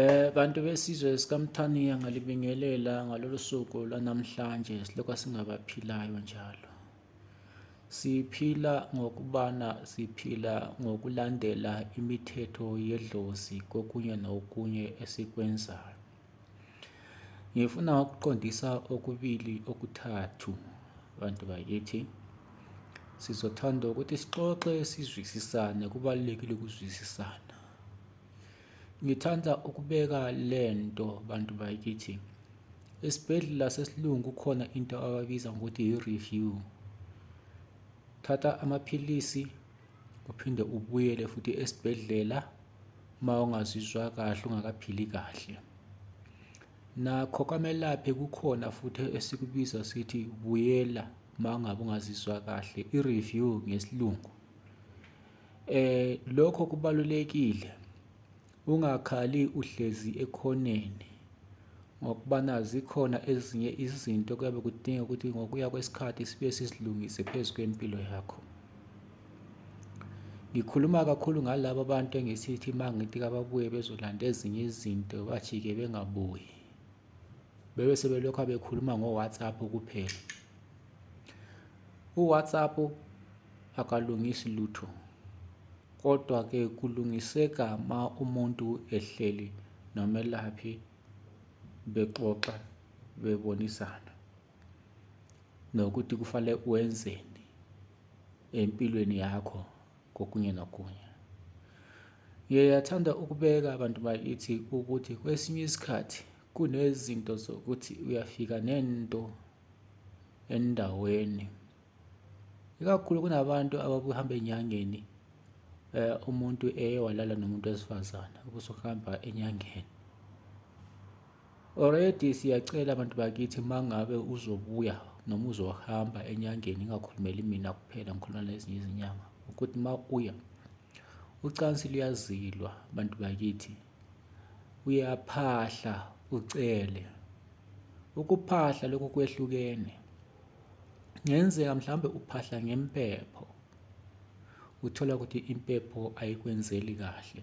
Eh bantu besizwe sikaMthaniya ngalibingelela ngalolu suku lwanamhlanje silokhu singabaphilayo njalo. Siphila ngokubana siphila ngokulandela imithetho yedlozi kokunye nokunye esikwenzayo. Ngifuna ukuqondisa okubili okuthathu bantu bakithi. Sizothanda ukuthi sixoxe sizwisisane, kubalulekile ukuzwisisana. Ngithanda ukubeka le nto bantu bakithi. Esibhedlela sesilungu kukhona into ababiza ngokuthi yi-review. Thatha amaphilisi uphinde ubuyele futhi esibhedlela uma ungazizwa kahle ungakaphili kahle. Nakho kwamelaphi kukhona futhi esikubiza sithi buyela uma ngabe ungazizwa kahle, i-review ngesilungu. Eh lokho kubalulekile. Ungakhali uhlezi ekhoneni ngokubana zikhona ezinye izinto kuyabe kudinga ukuthi ngokuya kwesikhathi sibe sizilungise phezu kwempilo yakho. Ngikhuluma kakhulu ngalaba bantu engisithi uma ngithi kababuye bezolanda ezinye izinto bajike bengabuyi bebe sebelokhu bekhuluma ngo-whatsapp kuphela u-whatsapp akalungisi lutho kodwa-ke kulungiseka ma umuntu ehleli nomelaphi bexoxa bebonisana nokuthi kufanele wenzeni empilweni yakho kokunye nokunye. Ngiyathanda ukubeka abantu bakithi ukuthi kwesinye isikhathi kunezinto zokuthi uyafika nento endaweni, ikakhulu kunabantu ababuhamba enyangeni eh, umuntu eye walala nomuntu wesifazane ubusuhamba enyangeni. Already siyacela bantu bakithi uma ngabe uzobuya noma uzohamba enyangeni ingakhulumeli mina kuphela ngikhuluma nezinye izinyanga ukuthi uma uya ucansi luyazilwa bantu bakithi uyaphahla ucele ukuphahla lokhu kwehlukene ngenzeka mhlawumbe uphahla ngempepho uthola ukuthi impepho ayikwenzeli kahle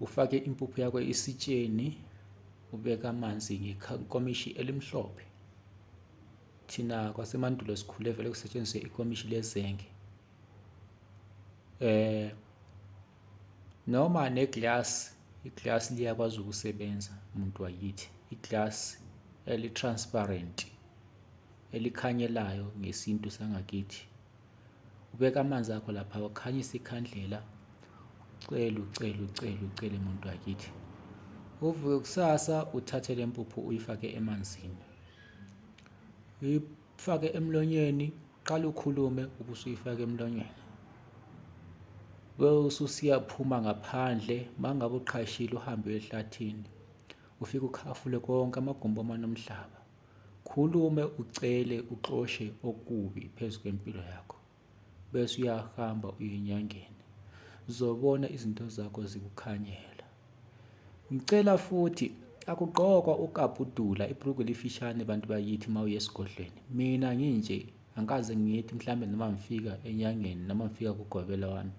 Ufake impuphu yakho esitsheni, ubeke amanzi ngekomishi elimhlophe. Thina kwasemandulo sikhule vele kusetshenziswe ikomishi lezenge. Noma ne-glass, i-glass liyakwazi ukusebenza muntu wakithi. I-glass eli-transparent, elikhanyelayo ngesintu sangakithi. ubeka amanzi akho lapha ukhanyisa ikhandlela ucele ucele ucele ucele muntu wakithi uvuke kusasa uthathe le mpuphu uyifake emanzini uyifake emlonyeni qala ukhulume ubusuyifaka emlonyeni ususiyaphuma ngaphandle mangabe uqhashile uhambe ehlathini ufike ukhafule konke amagumbi amanomhlaba Khulume ucele uxoshe okubi phezu kwempilo yakho bese uyahamba uyenyangeni zobona izinto zakho zikukhanyela ngicela futhi akugqokwa ukabhudula ibhruku lifishane bantu bakithi uma uye esigodlweni mina nginje angikaze ngithi mhlawumbe noma ngifika enyangeni noma ngifika kugobela wami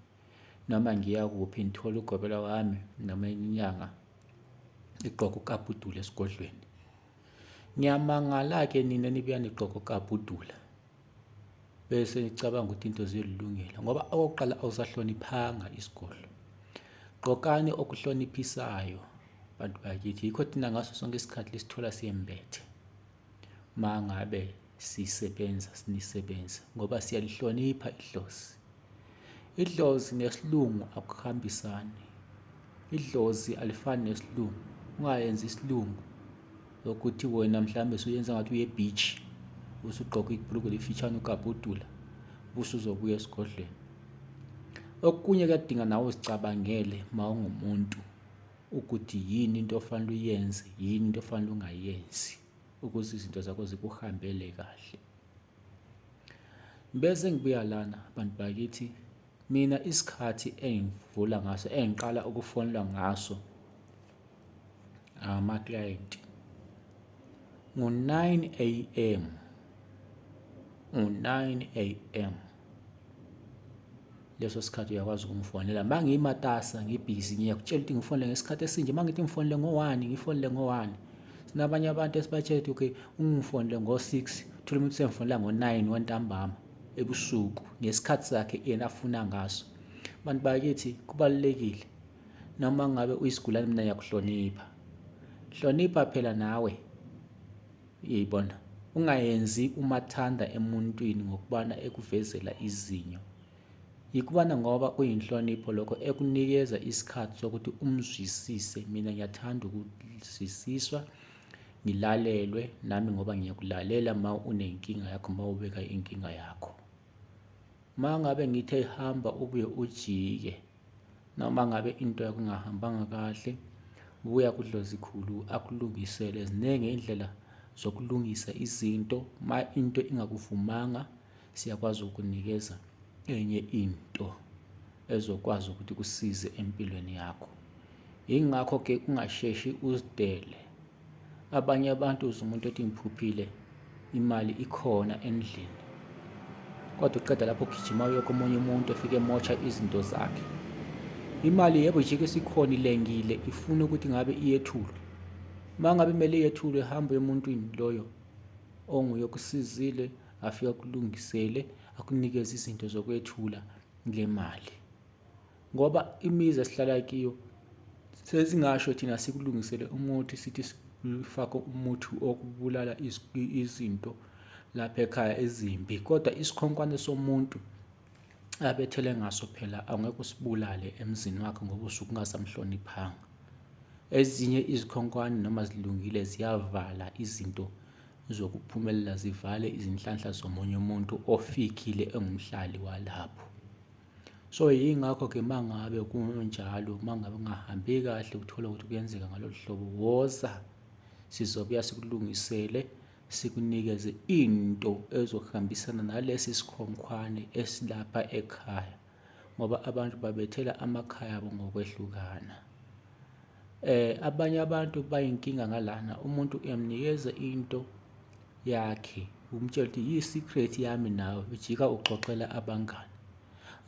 noma ngiya kuphi ngithola ugobela wami noma inyanga igqoka ukabhudula esigodlweni Ngiyamangala-ke nina nibuya nigqoke okabhudula bese nicabanga ukuthi into ziyolilungela ngoba okokuqala awusahloniphanga isigodlo. Gqokani okuhloniphisayo bantu bakithi, yikho thina ngaso sonke isikhathi lisithola sembethe uma ngabe. sisebenza sinisebenza ngoba siyalihlonipha idlozi idlozi nesilungu akuhambisani idlozi alifani nesilungu ungayenzi isilungu ukuthi wena mhlawumbe suyenza ngathi uye beach usugqoka ibhulukwe lifitshane ukabhudula ubusuzobuya esigodlweni okunye kuyadinga nawe uzicabangele uma ungumuntu ukuthi yini into ofanele uyenze yini into ofanele ungayenzi ukuze izinto zakho zikuhambele kahle. Bese ngibuya lana bantu bakithi mina isikhathi engivula ngaso engiqala ukufonelwa ngaso ama-client ngo-9 a.m. ngo-9 a.m. leso sikhathi uyakwazi ukungifonela uma ngimatasa ngibhizi ngiyakutshela ukuthi ngifonele ngesikhathi esinje uma ngithi ngifonele ngo-one ngifonele ngo-one sinabanye abantu esibatshela ukuthi okay ungifonele ngo-six thole umuntu sengifonela ngo-nine wantambama ebusuku ngesikhathi sakhe yena afuna ngaso abantu bakithi kubalulekile noma ngabe uyisigulane mina ngiyakuhlonipha hlonipha phela nawe Uyayibona? Ungayenzi umathanda emuntwini ngokubana ekuvezela izinyo. Yikubana ngoba kuyinhlonipho lokho ekunikeza isikhathi sokuthi umzwisise. Mina ngiyathanda ukuzwisiswa, ngilalelwe nami ngoba ngiyakulalela ma unenkinga yakho, ma ubeka inkinga yakho. Ma ngabe ngithe hamba ubuye ujike, Noma ngabe into yakho ingahambanga kahle, buya kuDlozikhulu akulungisele. Ziningi iy'ndlela zokulungisa izinto. Uma into ingakuvumanga, siyakwazi ukukunikeza enye into ezokwazi ukuthi ikusize empilweni yakho. Yingakho-ke ungasheshi uzidele. Abanye abantu uze umuntu ethi ngiphuphile imali ikhona endlini kodwa uqeda lapho ugijima uye komunye umuntu ofike emotsha izinto zakhe imali yebo jike isikhona ilengile ifuna ukuthi ngabe iyethulwe uma ngabe kumele iyethulwe hambe emuntwini loyo onguye okusizile afike akulungisele akunikeze izinto zokwethula le mali ngoba imizi esihlala kiyo sesingasho thina sikulungisele umuthi sithi sifake umuthi okubulala izinto lapha ekhaya ezimbi kodwa isikhonkwane somuntu abethele ngaso phela angeke usibulale emzini wakhe ngoba usuke ungasamhloniphanga ezinye izikhonkwane noma zilungile ziyavala izinto zokuphumelela zivale izinhlanhla zomunye umuntu ofikile engumhlali walapho So, yingakho-ke uma ngabe kunjalo, uma ngabe kungahambi kahle uthole ukuthi kuyenzeka ngalolu hlobo, woza sizobuya sikulungisele sikunikeze into ezohambisana nalesi sikhonkhwane esilapha ekhaya ngoba abantu babethela amakhaya abo ngokwehlukana. Abanye abantu bayinkinga ngalana, umuntu uyamnikeza into yakhe, umtshele ukuthi yi-secret yami nawe, ujika uxoxela abangani.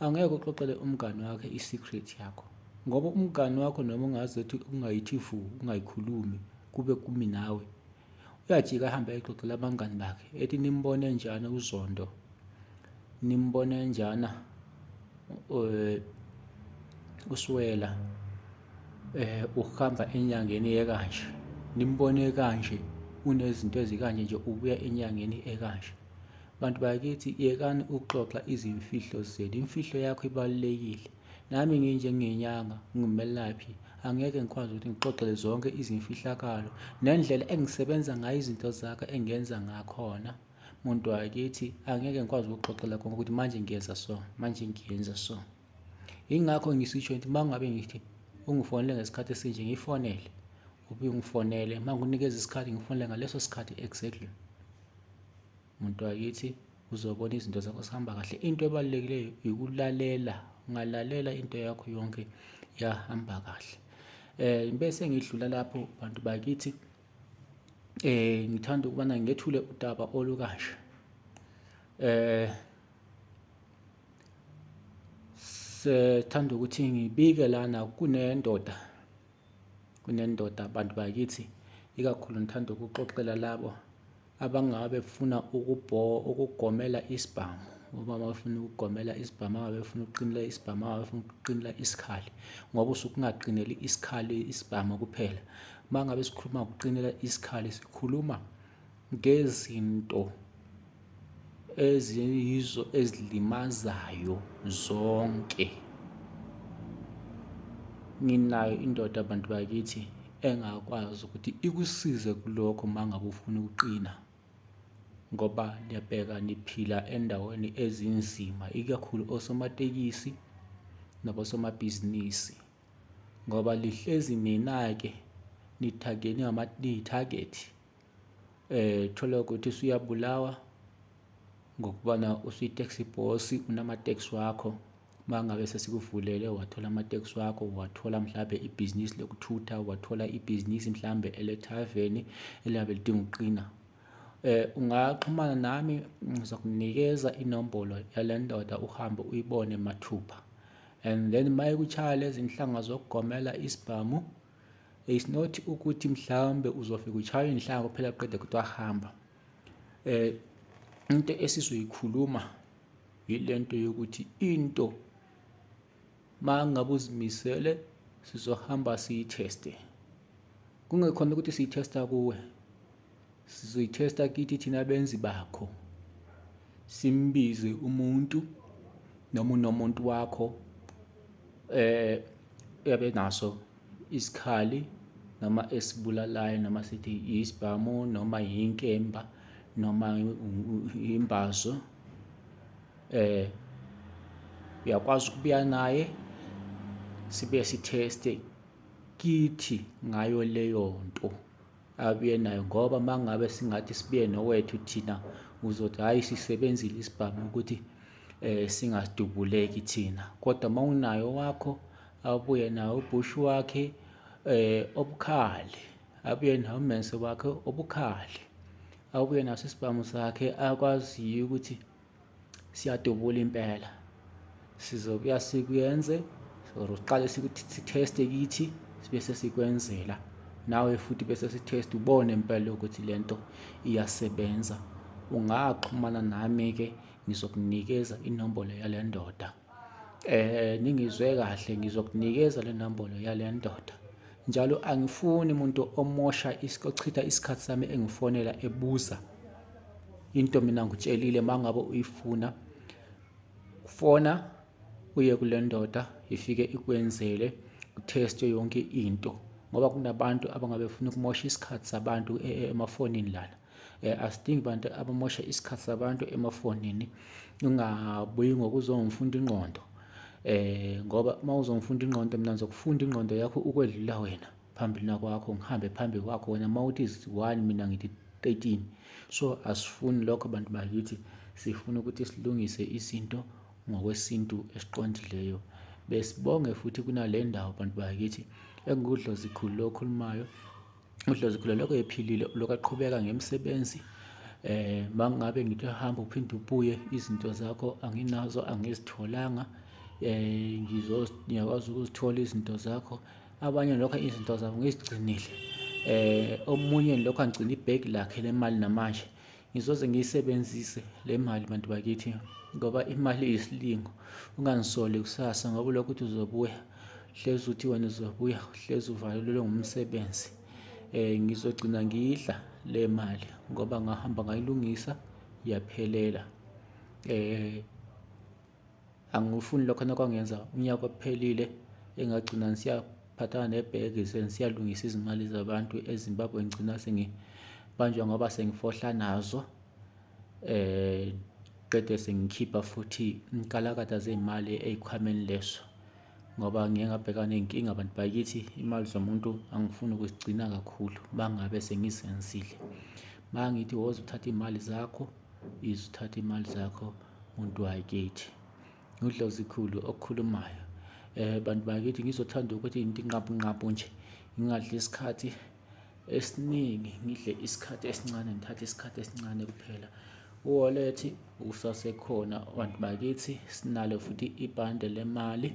Angeke uxoxele umngani wakho i-secret yakho ngoba umngani wakho noma ungaze uthi ungayithivu, ungayikhulumi kube kumi nawe. Uyajika ahambe ayexoxela abangani bakhe ethi nimbone njani uZondo, nimbone njana eh, uSwela eh uhamba enyangeni ekanje nimbone kanje unezinto ezikanje nje ubuya enyangeni ekanje bantu bakithi yekani ukuxoxa izimfihlo zenu imfihlo yakho ibalulekile Nami nginjengenyanga, ngingumelaphi, angeke ngikwazi ukuthi ngixoxele zonke izimfihlakalo nendlela engisebenza ngayo izinto zakhe engenza ngakhona. Muntu wakithi angeke ngikwazi ukuxoxela konke ukuthi manje ngiyenza so, manje ngiyenza so. Yingakho ngisisho ukuthi uma ngabe ngithi ungifonele ngesikhathi esinje ngifonele, ubuye ungifonele, uma ngikunikeza isikhathi ngifonele ngaleso sikhathi exactly. Muntu wakithi uzobona izinto zakho zihamba kahle into ebalulekileyo ikulalela ungalalela into yakho yonke yahamba kahle eh bese ngidlula lapho bantu bakithi eh ngithanda ukubana ngethule udaba olukasha eh sethanda ukuthi ngibike lana kunendoda kunendoda bantu bakithi ikakhulu ngithanda ukuxoxela labo abangabe befuna ukugomela isibhamu uma bafuna ukugomela isibhamu angabe befuna ukuqinela isibhamu angabe befuna ukuqinela isikhali ngoba usuke ungaqineli isikhali isibhamu kuphela uma ngabe sikhuluma ngokuqinela isikhali sikhuluma ngezinto eziyizo ezilimazayo zonke. Nginayo indoda bantu bakithi engakwazi ukuthi ikusize kulokho uma ngabe ufuna ukuqina ngoba niyabheka niphila endaweni ezinzima, ikakhulu osomatekisi nabosomabhizinisi ngoba lihlezi nina-ke nithagenwe niyithagethi. eh thola ukuthi usuyabulawa ngokubana usuyi-taxi boss unama-tax wakho uma ngabe sesikuvulele wathola ama-tax wakho wathola mhlawumbe ibhizinisi lokuthutha wathola ibhizinisi mhlawumbe elethaveni eliyabe lidinga ukuqina eh ungaxhumana nami ngizokunikeza inombolo yale ndoda uhambe uyibone mathupha and then mayekuchaya lezi nhlanga zokugomela isibhamu It's not ukuthi mhlawumbe uzofika uchawe inhlanga kuphela qede kuthi wahamba. Eh into esizoyikhuluma yilento yokuthi into mangabe uzimisele sizohamba siyitheste. Kungekhona ukuthi siyithesta kuwe sizoyithesta kithi thina benzi bakho simbize umuntu noma unomuntu wakho eh yabe naso isikhali noma esibulalayo noma sithi isibhamu noma yinkemba noma imbazo eh uyakwazi ukubuya naye sibe sitheste kithi ngayo leyo nto abuye nayo ngoba uma ngabe singathi sibuye nowethu thina uzothi hhayi sisebenzile isibhamu ukuthi um singadubuleki thina kodwa uma unayo wakho abuye nawo ubhushu wakhe um obukhali abuye nawo umense wakhe obukhali abuye naso isibhamu sakhe akwaziyo ukuthi siyadubula impela sizobuya sikuyenze or siqale sitheste kithi bese sikwenzela nawe futhi bese sitheste ubone impela ukuthi lento iyasebenza ungaxhumana nami ke ngizokunikeza inombolo yale ndoda Ningizwe kahle ngizokunikeza le nombolo yale ndoda njalo angifuni umuntu omosha ochitha isikhathi sami engifonela ebuza into mina ngitshelile uma ngabe uyifuna fona uye kule ndoda ifike ikwenzele utheste yonke into ngoba kunabantu abangabe befuna ukumosha isikhathi sabantu emafonini lana. eh, asidingi bantu abamosha isikhathi sabantu emafonini ungabuyi ngokuzongifunda ingqondo eh ngoba uma uzongifunda ingqondo mina ngizokufunda ingqondo yakho ukwedlula wena phambili nakwakho ngihambe phambi kwakho wena uma uthi one mina ngithi 13 so asifuni lokho bantu bakithi sifuna ukuthi silungise izinto ngokwesintu esiqondileyo besibonge futhi kunale ndawo bantu bakithi engudlozikhulu lokhulumayo uDlozi khuleloko ephilile uloku aqhubeka ngemisebenzi eh mangabe ngithi hamba uphinde ubuye izinto zakho anginazo angizitholanga eh ngizo ngiyakwazi ukuzithola izinto zakho abanye lokho izinto zabo ngizigcinile eh omunye lokho angigcina ibag lakhe lemali namanje ngizoze ngiyisebenzise le mali bantu bakithi ngoba imali iyisilingo ungangisoli kusasa ngoba ulokhu uthi uzobuya hlezi uthi wena uzobuya hlezi uvalelelwe ngumsebenzi um ngizogcina ngiyidla le mali ngoba ngahamba ngayilungisa yaphelela um angikufuni lokho nokwangenza unyaka ophelile engagcina ngisiyaphathana nebheki sengisiyalungisa izimali zabantu ezimbabwe ngigcina sengibanjwa ngoba sengifohla nazo um qede sengikhipha futhi inkalakatha zey'mali ey'khwameni leso ngoba ngiye ngabhekana ney'nkinga bantu bakithi imali zomuntu angifuni ukuzigcina kakhulu uma ngabe sengizenzile uma ngithi woza uthatha iy'mali zakho izithatha imali zakho. Muntu wakithi uDlozikhulu okhulumayo eh bantu bakithi ngizothanda ukuthi ngintinqabunqabu nje ngingadli isikhathi esiningi ngidle isikhathi esincane ngithathe isikhathi esincane kuphela u-wallet usasekhona bantu bakithi sinalo futhi ibhande lemali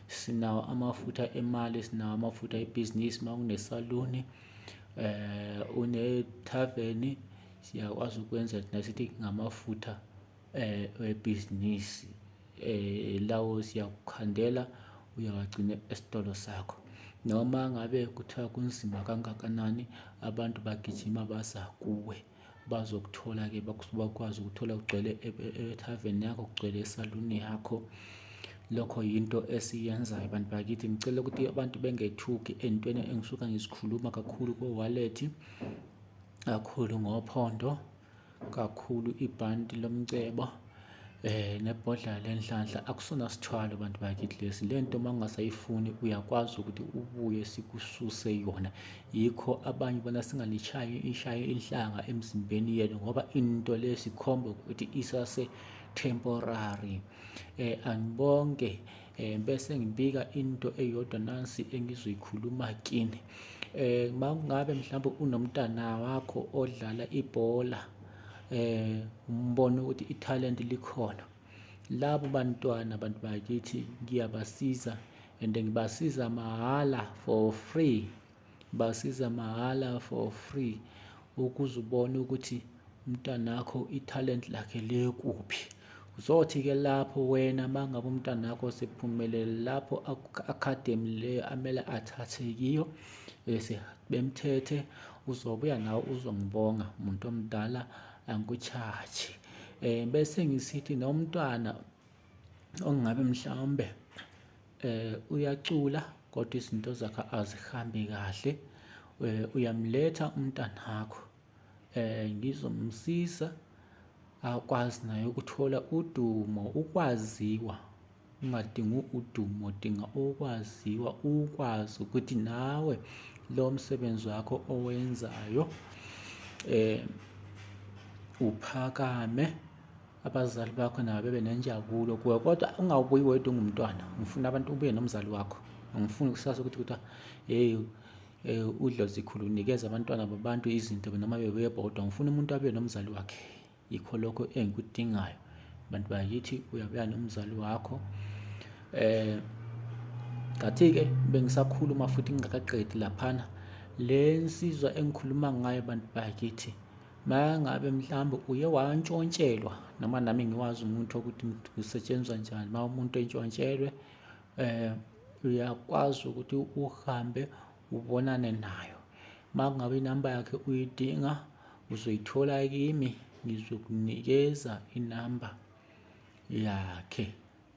sinawo amafutha emali sinawo amafutha ebhizinisi uma unesaluni um eh, unethaveni siyakwazi ukwenza thina sithi ngamafutha webhizinisi lawo siyakukhandela uyawagcina esitolo sakho noma ngabe kuthiwa kunzima kangakanani abantu bagijima baza kuwe bazokuthola-ke bakwazi ukuthola kugcwele ethaveni yakho kugcwele esaluni yakho lokho yinto esiyenzayo bantu bakithi ngicela ukuthi abantu bengethuki entweni engisuka ngizikhuluma kakhulu ko-wallet kakhulu ngophondo kakhulu ibhanti lomcebo eh nebhodla lenhlanhla akusona sithwalo bantu bakithi lesi lento uma ungasayifuni uyakwazi ukuthi ubuye sikususe yona yikho abanye bona singalishayi ishaye inhlanga emzimbeni yethu ngoba into lesikhomba ukuthi isase temporary eh anibonke eh, bese ngibika into eyodwa nansi engizoyikhuluma kini eh makungabe mhlawumbe unomntana wakho odlala ibhola eh umbona ukuthi italent likhona labo bantwana abantu bakithi ngiyabasiza and ngibasiza mahhala for free Basiza mahhala for free ukuze ubone ukuthi umntanakho ithalente lakhe likuphi. Uzothi-ke lapho wena uma ngabe umntanakho sephumelele lapho academy leyo amele athathe kiyo bese bemthethe uzobuya nawe uzongibonga muntu omdala angikucharge um bese ngisithi nomntwana ongabe mhlawumbe eh uyacula kodwa izinto zakhe azihambi kahle eh, uyamletha umntanakho eh ngizomsiza akwazi naye ukuthola udumo ukwaziwa ungadingi udumo dinga okwaziwa ukwazi ukuthi nawe lo msebenzi wakho owenzayo eh uphakame abazali bakho nabo bebe nenjabulo kuwe kodwa ungawubuyi wedwa ungumntwana ngifuna abantu ubuye nomzali wakho angifuni kusasa ukuthi kuthiwa hey eh, udlozikhulu unikeza abantwana babantu izinto noma bebuye bodwa ngifuna umuntu abuye nomzali wakhe yikho lokho engikudingayo bantu bakithi uyabuya nomzali wakho eh ngathi-ke bengisakhuluma futhi ngingakaqedi laphana le nsizwa engikhuluma ngayo bantu bakithi Mayangabe mhlawumbe uye wantshontshelwa noma nami ngiwazi umuntu ukuthi kusetshenzwa njani uma umuntu entshontshelwe um uyakwazi ukuthi uhambe ubonane nayo uma kungabe inamba yakhe uyidinga uzoyithola kimi ngizokunikeza inamba yakhe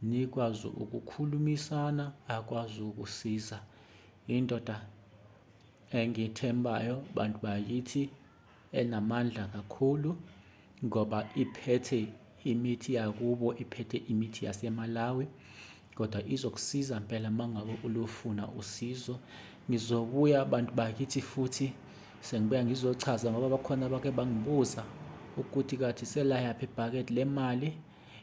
nikwazi ukukhulumisana akwazi ukusiza indoda engiyethembayo bantu bakithi enamandla kakhulu ngoba iphethe imithi yakubo, iphethe imithi yaseMalawi kodwa izokusiza mpela mangabe ulufuna usizo. Ngizobuya bantu bakithi futhi sengibuya ngizochaza ngoba bakhona abake bangibuza ukuthi kathi selayaphi ibhakede lemali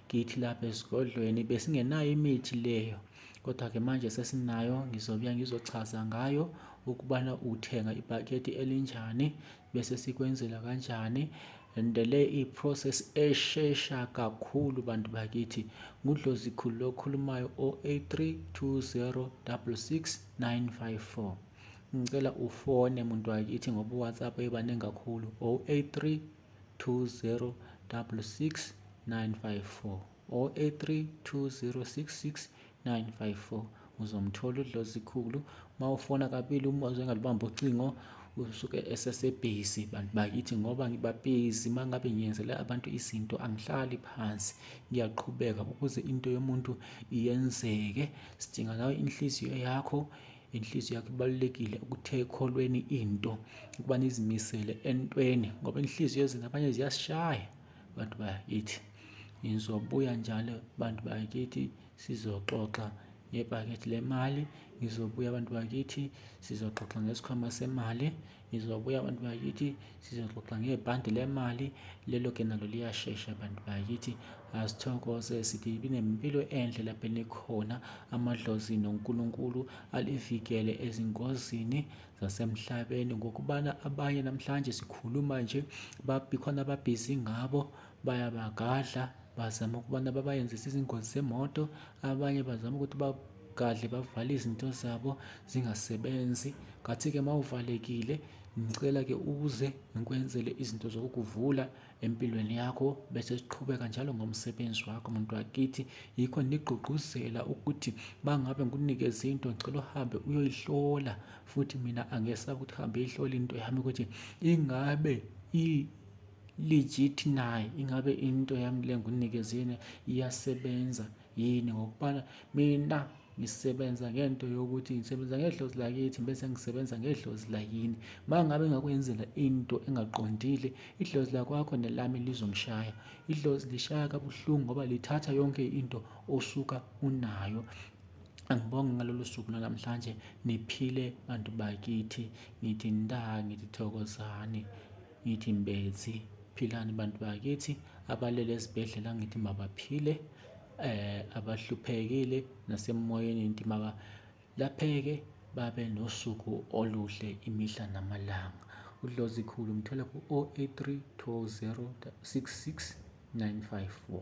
ngithi lapha esigodlweni besingenayo imithi leyo. Kodwa-ke manje sesinayo, ngizobuya ngizochaza ngayo ukubana uthenga ibhakede elinjani bese sikwenzela kanjani and le i-process eshesha kakhulu bantu bakithi ngudlozi khulu lokhulumayo o-83206694 ngicela ufone muntu wakithi ngoba uwhatsapp ebaningi kakhulu 083 20 66 954 0832066954 uzomthola udlozikhulu mawufona kabili uma uzengalibamba ucingo usuke esesebhizi bantu bakithi ngoba ngibabhizi uma ngabe ngiyenzele abantu izinto angihlali phansi ngiyaqhubeka ukuze into yomuntu iyenzeke sidinga nawe inhliziyo yakho inhliziyo yakho ibalulekile ukuthe ekholweni into ukuba nizimisele entweni ngoba inhliziyo ezini abanye ziyasishaya bantu bakithi Ngizobuya njalo bantu bakithi sizoxoxa ngebhakede lemali, ngizobuya bantu bakithi sizoxoxa ngesikhwama semali, ngizobuya bantu bakithi sizoxoxa ngebhande lemali. Lelo-ke nalo liyashesha bantu bakithi, asithokoze sithi nempilo enhle lapho enikhona. Amadlozi noNkulunkulu alivikele ezingozini zasemhlabeni ngokubana abanye namhlanje sikhuluma nje khona ababhizi ngabo. Bayabagadla, bazama ukubana babayenzise izingozi zemoto, abanye bazama ukuthi bagadle bavale izinto zabo zingasebenzi. Ngathi-ke uma uvalekile ngicela-ke uze ngikwenzele izinto zokukuvula empilweni yakho bese siqhubeka njalo ngomsebenzi wakho muntu wakithi yikho nigqugquzela ukuthi bangabe ngikunikeza into ngicela uhambe uyoyihlola futhi mina angesabi ukuthi hambe ihlola into yami ukuthi ingabe legit naye ingabe into yami le ngunikezeni iyasebenza yini ngokubana mina ngisebenza ngento yokuthi ngisebenza ngedlozi lakithi bese ngisebenza ngedlozi layini uma ngabe ngakwenzela into engaqondile idlozi lakwakho nelami lizongishaya idlozi lishaya kabuhlungu ngoba lithatha yonke into osuka unayo angibonge ngalolu suku lwanamhlanje niphile bantu bakithi ngithi nda ngithi thokozani Ngithi mbezi philani bantu bakithi abalele esibhedlela ngithi mabaphile eh abahluphekile nasemoyeni ngithi maka lapheke babe nosuku oluhle imihla namalanga udlozi khulu mthole ku 083 20 66 954